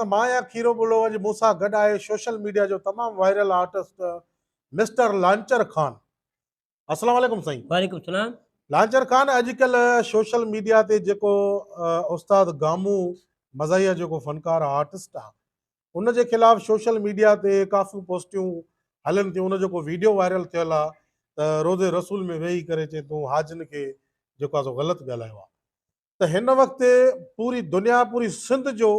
ته مان يا کيرو ٻلو اڄ مون سان گڏ آهي سوشل ميڊيا جو تمام viral artist mister Launcher Khan اسلام عليڪم سائين وعليڪم السلام لانچر خان اڄڪلهه سوشل ميڊيا تي جيڪو استاد گامو مزاحيه جيڪو فنڪار آرٽسٽ آ ان جي خلاف سوشل ميڊيا تي ڪافيون پوسٽيون هلن ٿيون ان جيڪو ويڊيو وائرل ٿيل آ ته روزي رسول ۾ ويهي ڪري چي تون حاجن کي جيڪو آ سو غلط ڳالهايو آ ته هن وقت پوري دنيا پوري سنڌ جو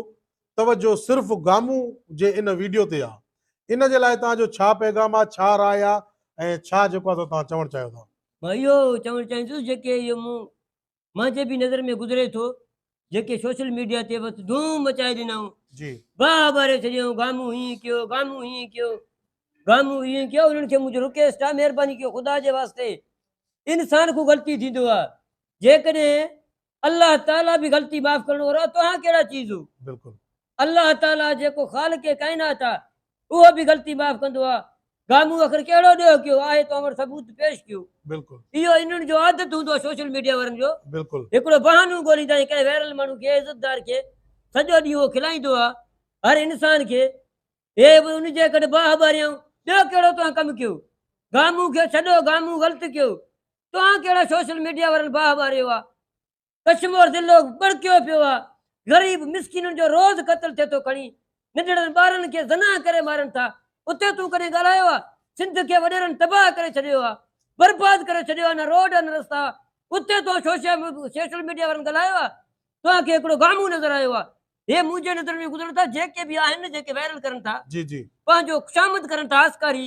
توجه صرف گامون جي ان ويڊيو تي آ ان جي لاء توهان جو ڇا پيغام آ ڇا راء آ ۽ ڇا جيڪو آ سو توهان چوڻ چاهيو ٿا. مان اهو چوڻ چاهيندس جيڪي اهو مون مان جي به نظر ۾ گذري ٿو جيڪي سوشل ميڊيا تي بس ڌوم مچائي ڏنائون جي باء ٻاري ڇڏيائون گامون هيئن ڪيو گامون هيئن ڪيو گامون هيئن ڪيو انهن کي منهنجو رڪيسٽ آ مهرباني ڪيو خدا جي واسطي انسان کون غلطي ٿيندو آ جيڪڏهن الله تعالي به غلطي معاف ڪرڻ وارو آهي توهان ڪهڙا چيز هو بلڪل الله تعالي جيڪو خالق ڪائنات آهي اهو به غلطي معاف ڪندو آهي گامون اخر ڪهڙو ڏيهه ڪيو آهي توهان وٽ ثبوت پيش ڪيو بلڪل اهو انهن جو عادت هوندو آهي سوشل ميڊيا وارن جو بلڪل هڪڙو بهانو ڳوليندا آهن ڪنهن وائرل ماڻهو کي عزتدار کي سڄو ڏينهن اهو کلائيندو آهي هر انسان کي اي به ان جي ڪڍ باهه ٻاريائون، ٻيو ڪهڙو توهان ڪم ڪيو؟ گامون کي ڇڏو، گامون غلط ڪيو، توهان ڪهڙا سوشل ميڊيا وارن باهه ٻاريو آ؟ ڪشمور ضلعو ٻڙڪيو پيو آ، غريب مسڪينن جو روز قتل ٿئي ٿو، کڻي ننڍڙن ٻارن کي زنا ڪري مارن ٿا، اتي تون ڪڏهن ڳالهايو آ؟ سنڌ کي وڏيرن تباهه ڪري ڇڏيو آ، برباد ڪري ڇڏيو آ، نه روڊ آ نه رستا آ، اتي توهان سوشل ميڊيا وارن ڳالهايو آ؟ توهان کي هڪڙو گامون نظر آيو آ؟ هي منهنجي نظر ۾ گذرن ٿا جيڪي به آهن جيڪي وائرل ڪرن ٿا جي جي پنهنجو خوشامد ڪرن ٿا آسڪاري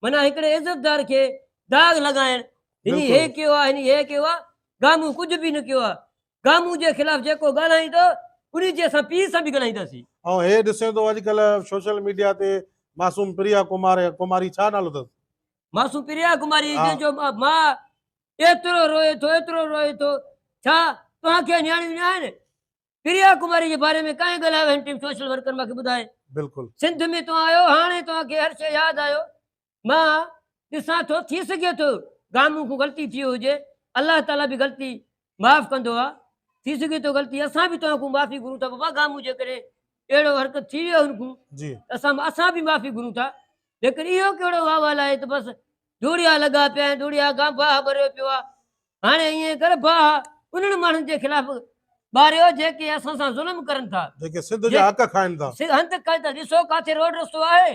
معنيٰ هڪڙي عزتدار کي داغ لڳائڻ هن هي ڪيو آ هن هي ڪيو آ گامون ڪجهه به نه ڪيو آ گامون جي خلاف جيڪو ڳالهائين ٿو انهي جي اسان پيء سان به ڳالهائينداسين ۽ هي ڏسين ٿو اڄ ڪلهه سوشل ميڊيا تي معصوم پريا ڪمار ڪماري ڇا نالو اٿس معصوم پريا ڪماري جنهن جو ماء ايترو روئي ٿو ايترو روئي ٿو ڇا توهان کي نياڻيون نه آهن پريا ڪماري جي باري ۾ ڪانهين ڳالهايو هن ٽن سوشل ورڪر مان کي ٻڌائي بلڪل سنڌ ۾ توهان آيو هاڻي توهان کي هر شي ياد آيو مان ڏسان ٿو ٿي سگهي ٿو گامون کون غلطي ٿيو هجي الله تعالي به غلطي معاف ڪندو آ ٿي سگهي ٿو غلطي اسان به توهان کون معافي گهرون ٿا بابا گامون جي ڪري اهڙو حرڪت ٿي ويو هن کون جي اسان اسان به معافي گهرون ٿا ليڪن اهو ڪهڙو واهوال آهي ته بس ڌوڙيا لڳا پيا آهن ڌوڙيا گانباهه ڀريو پيو آ هاڻي ائين ڪر باهه انهن ماڻهن جي خلاف ٻاريو جيڪي اسان سان ظلم ڪرن ٿا. جيڪي سنڌ جا حق کائن ٿا. سنڌ هنڌ ڪل ته ڏسو ڪاٿي روڊ رستو آهي.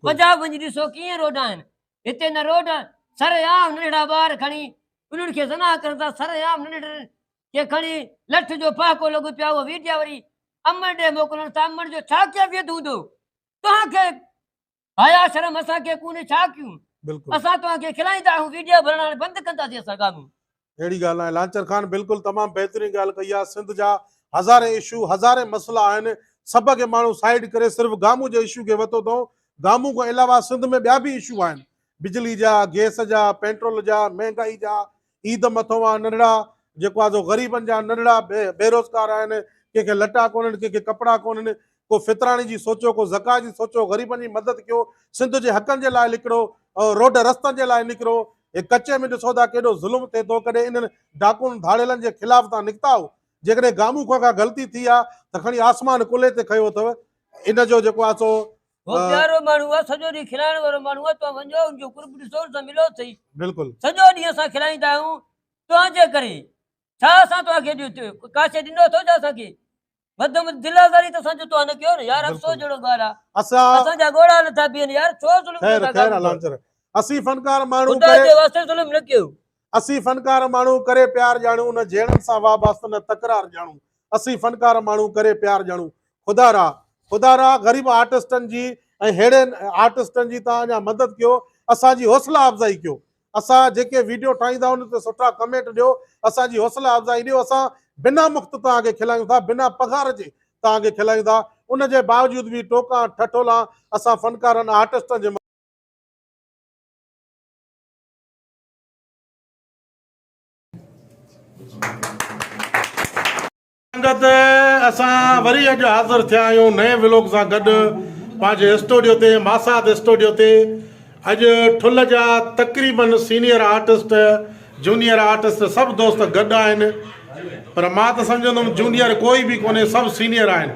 پنجاب وڃي ڏسو ڪيئن روڊ آهن. هتي نه روڊ سرعام ننڍڙا ٻار کڻي انهن کي زنا ڪرن ٿا سرعام ننڍڙن کي کڻي لٺ جو پهاڪو لڳو پيو اهو ويڊيا وري امڙ ڏي موڪلڻ ٿا امڙ جو ڇا ڪيفيت هوندو توهان کي حيا شرم اسان کي ڪونهي ڇا ڪيون بلڪل اسان توهان کي کلائيندا آهيون ويڊيو بڻائڻ هاڻي بند ڪندا سين اسان ڳاميون. اهڙي ڳالهه ناهي لانچر خان بلڪل تمام بهترين ڳالهه ڪئي آهي سنڌ جا هزارين اشو هزارين مسئلا آهن سڀ کي ماڻهو سائيڊ ڪري صرف گامون جي اشو کي وتو اٿئون گامون کان علاوه سنڌ ۾ ٻيا به اشو آهن بجلي جا گيس جا پينٽرول جا مهنگائي جا عيد مٿون آ ننڍڙا جيڪو آ سو غريبن جا ننڍڙا بيروزگار آهن ڪنهن کي لٽا ڪونهن ڪنهن کي ڪپڙا ڪونهن ڪو فطراڻي جي سوچيو ڪو زڪا جي سوچيو غريبن جي مدد ڪيو سنڌ جي حقن جي لاء لڪڙو روڊ رستن جي لاء نڪرو هي ڪچي ۾ ڏسو ٿا ڪيڏو ظلم ٿئي ٿو ڪڏهن انهن ڊاڪون ڌاڙيلن جي خلاف تان نڪتا آهو جيڪڏهن گامون کان ڪا غلطي ٿي آ ته کڻي آسمان ڪلهي تي کنيو اٿو ان جو جيڪو آ سو هو پيارو ماڻهو آهي سڄو ڏينهن کلائڻ وارو ماڻهو آهي توهان وڃو ان جو قرب ڏسو ان سان ملو اٿئي بلڪل سڄو ڏينهن اسان کلائيندا آهيون توهان جي ڪري ڇا اسان توهان کي ڏيو ڪا شيء ڏنو اٿو ڇا اسان کي وڌ ۾ دل آزاري ته اسان جو توهان نه ڪيو نه يار افسوس جهڙو ڳالهه آهي اسان اسان جا ڳوڙها نٿا بيهن يار ڇو ظلم خير خير الانچر اسين فنڪار ماڻهو خدا جي واسطي ظلم نه ڪيو اسين فنڪار ماڻهو ڪري پيار ڄاڻون نه جهيڙن سان واباست نه تڪرار ڄاڻون اسين فنڪار ماڻهو ڪري پيار ڄاڻون خدا را خدا را غريب آرٽسٽن جي ۽ ههڙي آرٽسٽن جي تان اڃا مدد ڪيو اسان جي حوصلا افزائي ڪيو اسان جيڪي ويڊيو ٺاهيندا ان تي سٺا ڪمينٽ ڏيو اسان جي حوصلا افزائي ڏيو اسان بنا مفت تان کي کلائيون ٿا بنا پگهار جي تان کي کلائيون ٿا ان جي باوجود به ٽوڪا ٺٺولا اسان فنڪارن آرٽسٽن جي سنگت اسان وري اڄ حاضر ٿيا آهيون نئين ولوگ سان گڏ پنهنجي اسٽوڊيو تي ماسات اسٽوڊيو تي اڄ ٺل جا تقريبن سينيئر آرٽسٽ جونيئر آرٽسٽ سڀ دوست گڏ آهن پر مان ته سمجهندم جونيئر ڪوئي به ڪونهي سڀ سينيئر آهن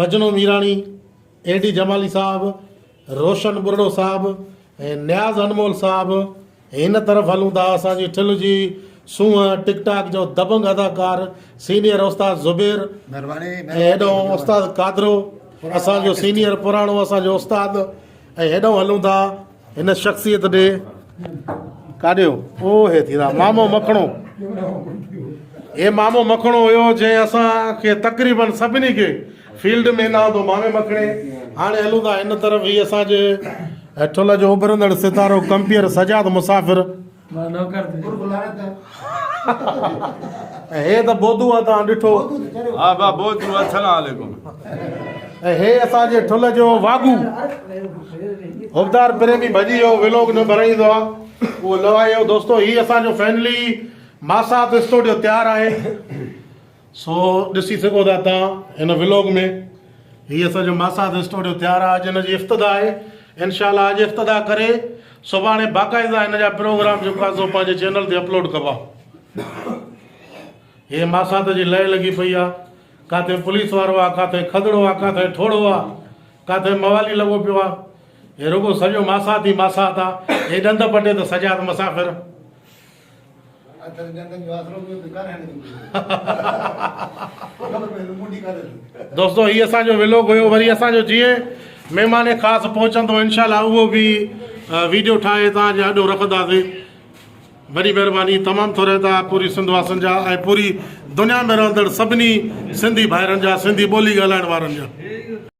مجنو ميراڻي، اي ڊي جمالي صاحب، روشن ٻرڙو صاحب ۽ نياز انمول صاحب هن طرف هلون ٿا اسان جي ٺل جي سونهن ٽڪ ٽاڪ جو دبنگ اداڪار سينيئر استاد زبير ۽ هيڏانهن استاد قادرو اسان جو سينيئر پراڻو اسان جو استاد ۽ هيڏانهن هلون ٿا هن شخصيت ڏي ڪاڏيو او هي ٿيرا مامو مکڻو هي مامو مکڻو هيو جنهن اسان کي تقريبن سڀني کي فيلڊ ۾ نه آندو مامي مکڻي هاڻي هلون ٿا ان طرف هي اسان جي ٺل جو اڀرندڙ ستارو ڪمپيئر سجاد مسافر هي ته بودو آ توهان ڏٺو. ها با بودو آ سلام عليڪم. ۽ هي اسان جي ٺل جو واڳو حبدار پريمي ڀڄي ويو ولوگ نه بنائيندو آ اهو لوايو دوستو هي اسان جو فينلي ماسات اسٽوڊيو تيار آهي. سو ڏسي سگهو ٿا تان هن ولوگ ۾ هي اسان جو ماسات اسٽوڊيو تيار آهي اڄ هن جي افتتاح آهي انشاء الله اڄ افتتاح ڪري سڀاڻي باقاعده هن جا پروگرام جيڪو آهي سو پنهنجي چينل تي اپلوڊ ڪبا هي ماسات جي لئي لڳي پئي آهي ڪاٿي پوليس وارو آهي ڪاٿي کدڙو آهي ڪاٿي ٺوڙو آهي ڪاٿي موالي لڳو پيو آهي هي رڳو سڄو ماسات ئي ماسات آهي هي ڏند پٽي ته سجاد مسافر دوستو هي اسان جو ولوگ هيو وري اسان جو جيئن مهمان خاص پهچندو انشاء الله اهو به ويڊيو ٺاهي تان جي آڏو رکنداسين وڏي مهرباني تمام ٿوري تا پوري سنڌ واسن جا ۽ پوري دنيا ۾ رهندڙ سڀني سنڌي ڀائرن جا سنڌي ٻولي ڳالهائڻ وارن جا